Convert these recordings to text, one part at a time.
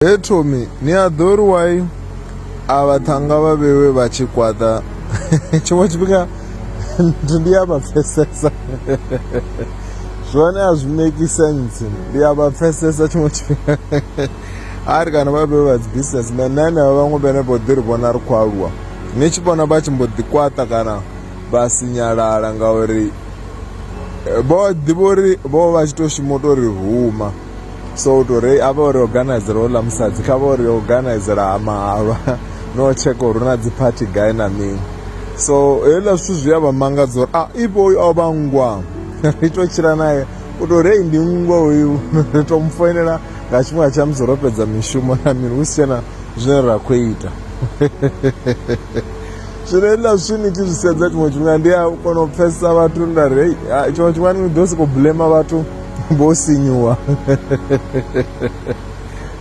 He Tommy ni a ḓo ri wai a vhaṱhanga vha vhewe vha tshi kwaṱa tshiṅwe tshifhinga ndi a vha pfesesa zwone a zwi make sense ndi a vha pfesesa tshiṅwe tshifhinga a ri kana vha vhewe vha dzi businessman na henevha vhaṅwe vhene vho ḓi ri vhona ri khou aluwa ni tshi vhona vha tshi mbo ḓi kwaṱa kana vha sinyalala ngauri vho ḓivha uri vho vha tshi tou shuma u tou ri huma so u tou ri a vha uri organizela houḽa musadzi kha vha uri yo organizela ha mahalwa no tsheka uri na dzi phathi gai na mini so hezwiḽa zwithu zwi a vha mangadza uri a ah, ipo uyu o vha ngwa ri tou tshila naye u tou rei ndi nngwa uyu ri tou mu foinela nga tshifhinga tsha musi ro fhedza mishumo na mini hu si tshena zwine ra khou ita zwino hezwiḽa zwithu ni tshi zwi sedza tshiṅwe tshifhinga ndi a kona u pfhesesa vhathu nda rei ah, tshiṅwe tshifhinga ni ḓo sokou blema vhathu vho sinyuwa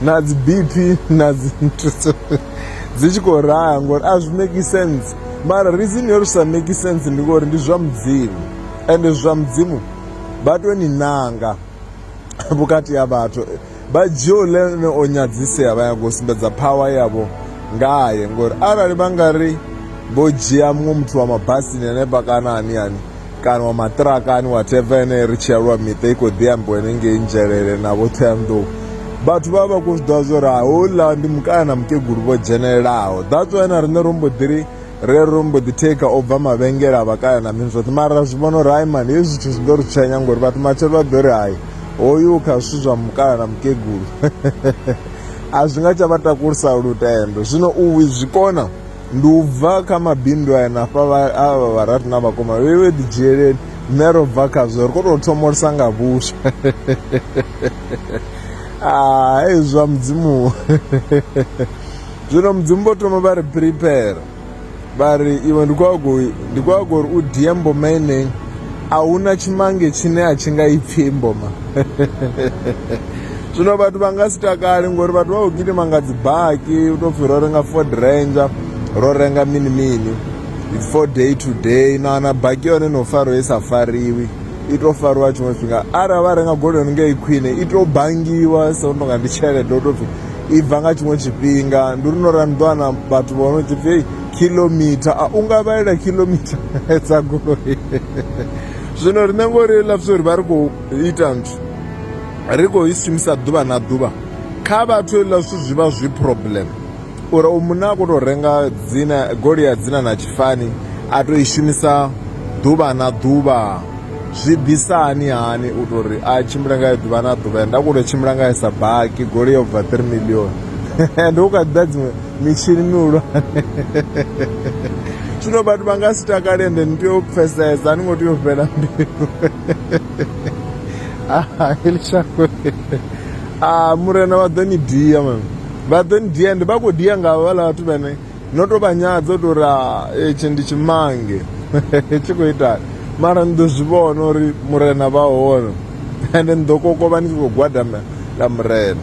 na dzi bp na dzi nthuso dzi tshi khou raha ngori a zwi make sense mara reason yo ri sa make sense ndi ngori ndi zwa mudzimu ende zwa mudzimu vha tou ni nanga vhukati ha vhathu vha dzhia ulene o nyadzisea vha yago sumbedza phawa yavho ngaye ngori arali vha nga ri vho dzhia muṅwe muthu wa mabasini hanefha kana ani ani kana wa maṱiraka ani whatever ene ri tshi aluwa miṱa i khou ḓi ambiwa henengei nzhelele na vho thoyanḓou vhathu vha vha khou zwi ḓivha zwo ri houḽa ndi mukana na mukegulu vho dzhenelelaho that's why na riṋe ro mbo ḓi ri re ro mbo ḓi theka o bva mavhengele a vhakaya na mini zwoṱhe mara ra zwi vhona uri hayi mani hezwi zwithu zwi ḓo ri tshwenya ngori vhathu matshelo vha ḓo ri hayi hoyu kha zwithu zwa mukala na mukegulu a zwi nga tsha vha takulisa lutendo zwino u zwi kona ndi u bva kha mabindu aya na fha avha vharati na vhakoma vhe vhe ḓi dzhieleni nṋe ro bva khazwo ri kho tou thomolisa nga vhuswa ah, hei zwa mudzimu zwino mudzimu vho thoma vha ri prepare vha ri iwe ndi khou ago uri u die mboma enei a hu na tshimange tshine a tshi nga ipfhi mboma zwino vhathu vha nga si takali ngori vhathu vha khou gidima nga dzibaki u tou pfhi ro renga ford ranger ro renga mini mini its for day to day na na baki yone no fariwa i sa fariwi i tou fariwa tshiṅwe tshifhinga arali vha renga goloi yone ngei khwine i tou bangiwa so tonga ndi tshelede u tou pfhi i bva nga tshiṅwe tshifhinga ndi uri no ra ni ḓo wana vhathu vho no tshi pfhi kilomitha a u nga vhalela kilomitha dza goloi zwino riṋe ngori lapfisa uri vha ri khou ita nthu ri khou i shumisa ḓuvha na ḓuvha kha vhathu hezwiḽa zwithu zwi vha zwi problem uri u munna a khou tou renga dzina goloi ya dzina na tshifani a tou i shumisa ḓuvha na ḓuvha zwi ḓisa hani hani u tou ri a tshimbile ngayo ḓuvha na ḓuvha nda khou tou tshimbila ngayo sa baki goloi yo bva three million ende u kha ḓi ḓa dziṅwe mitshini mihulwane zwino vhathu vha nga si takale ende ni tea u pfesesa a ni ngo tea u fhela mbilu ah, e le shakwe ah, murena vha ḓo ni dia man vha ḓo ni dia ende vha khou dia nga vhala vhathu vhane no tou vha nyadza u tou ri ah, etshi ndi tshimange tshi khou itani mara ni ḓo zwi vhona uri murena vha hone ende ni ḓo kokovha ni tshi khou gwadama ḽa murena